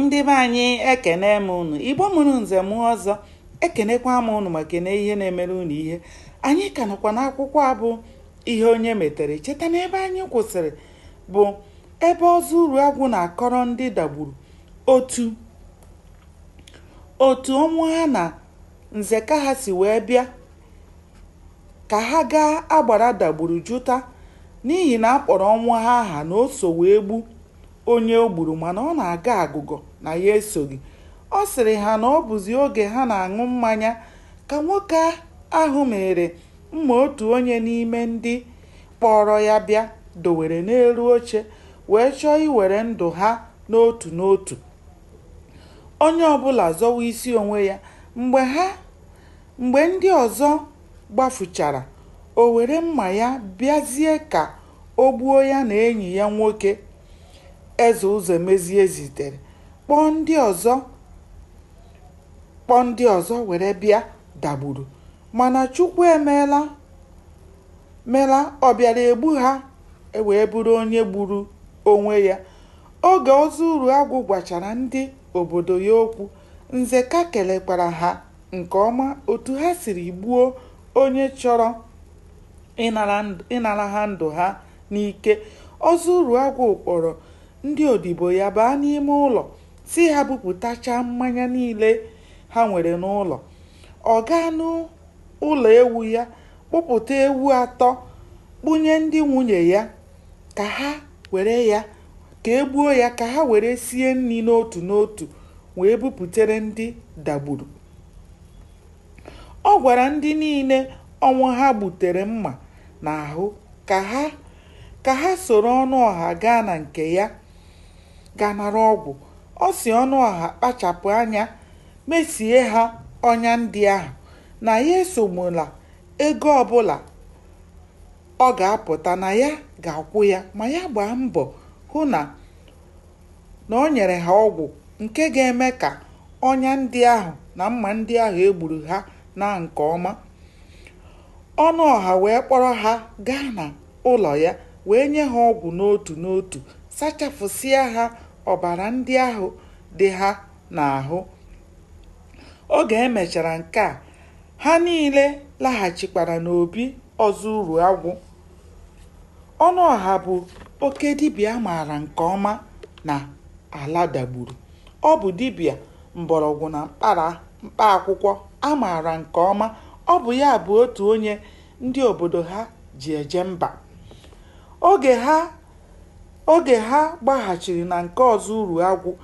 ndị be anyị ekene m unu igbo mụrụ nze mụọ ọzọ ekenekwa m unu ma kene ihe na-emere unu ihe anyị ka nọkwa n'akwụkwọ a bụ ihe onye metere cheta na ebe anyị kwụsịrị bụ ebe ọzọ uruagwụ na-akọrọ ndị dagburu otu otu ọnwụha na nzeka ha si wee bịa ka ha gaa agbara dagburu jụta n'ihi na a kpọrọ ọnwụha aha na o so wee gbu onye o gburu mana ọ na-agọ agụgọ na ya esoghị. Ọ sịrị ha na ọ bụzi oge ha na-aṅụ mmanya ka nwoke ahụ mịịrị mma otu onye n'ime ndị kpọọrọ ya bịa dowere n'elu oche wee chọọ iwere ndụ ha n'otu n'otu onye ọbụla zọwa isi onwe ya mgbe ha mgbe ndị ọzọ gbafuchara o were mma ya bịazie ka O gbuo ya na enyi ya nwoke, Eze Ụzọemezie zitere kpọọ ndị ọzọ kpọọ ndị ọzọ were bịa Dagburu mana Chukwu emeela mela ọ bịara egbu ha e wee bụrụ onye gburu onwe ya. Oge Ọzọ Uruagwụ gwachara ndị obodo ya okwu, Nzeka kelekwara ha nke ọma otu ha siri gbuo onye chọrọ ịnara ha ndụ ha n'ike ọzọ uruagwụ kpọrọ ndị odibo ya baa n'ime ụlọ sị ha bupụtachaa mmanya niile ha nwere n'ụlọ ọ gaa n'ụlọ ewu ya kpụpụta ewu atọ kpụnye ndị nwunye ya ka e gbuo ya ka ha were sie nri n'otu n'otu wee bupụtere ndị dagburu Ọ gwara ndị niile Ọnwụha gbutere mma n'ahụ ka ha ka ha soro Ọnụọha gaa na nke ya ga nara ọgwụ. Ọ sị Ọnụọha kpachapụ anya mesie ha ọnya ndị ahụ, na ya esogbula ego ọbụla ọ ga-apụta na ya ga-akwụ ya ma ya gbaa mbọ hụ na na o nyere ha ọgwụ nke ga-eme ka ọnya ndị ahụ na mma ndị ahụ e gburu ha naa nke ọma. Ọnụọha wee kpọrọ ha gaa na ụlọ ya wee nye ha ọgwụ n'otu n'otu, sachapụsịa ha ọbara ndị ahụ dị ha n'ahụ. Oge e mechara nke a, ha niile laghachikwara n'obi Ọzọ Uruagwụ. Ọnụọha bụ oke dibịa a maara nke ọma na ala dagburu. Ọ bụ dibịa mgbọrọgwụ na mkpa akwụkwọ a maara nke ọma. Ọ bụ ya bụ otu onye ndị obodo ha ji eje mba. Oge ha gbaghachiri na nke Ọzọ Uruagwụ,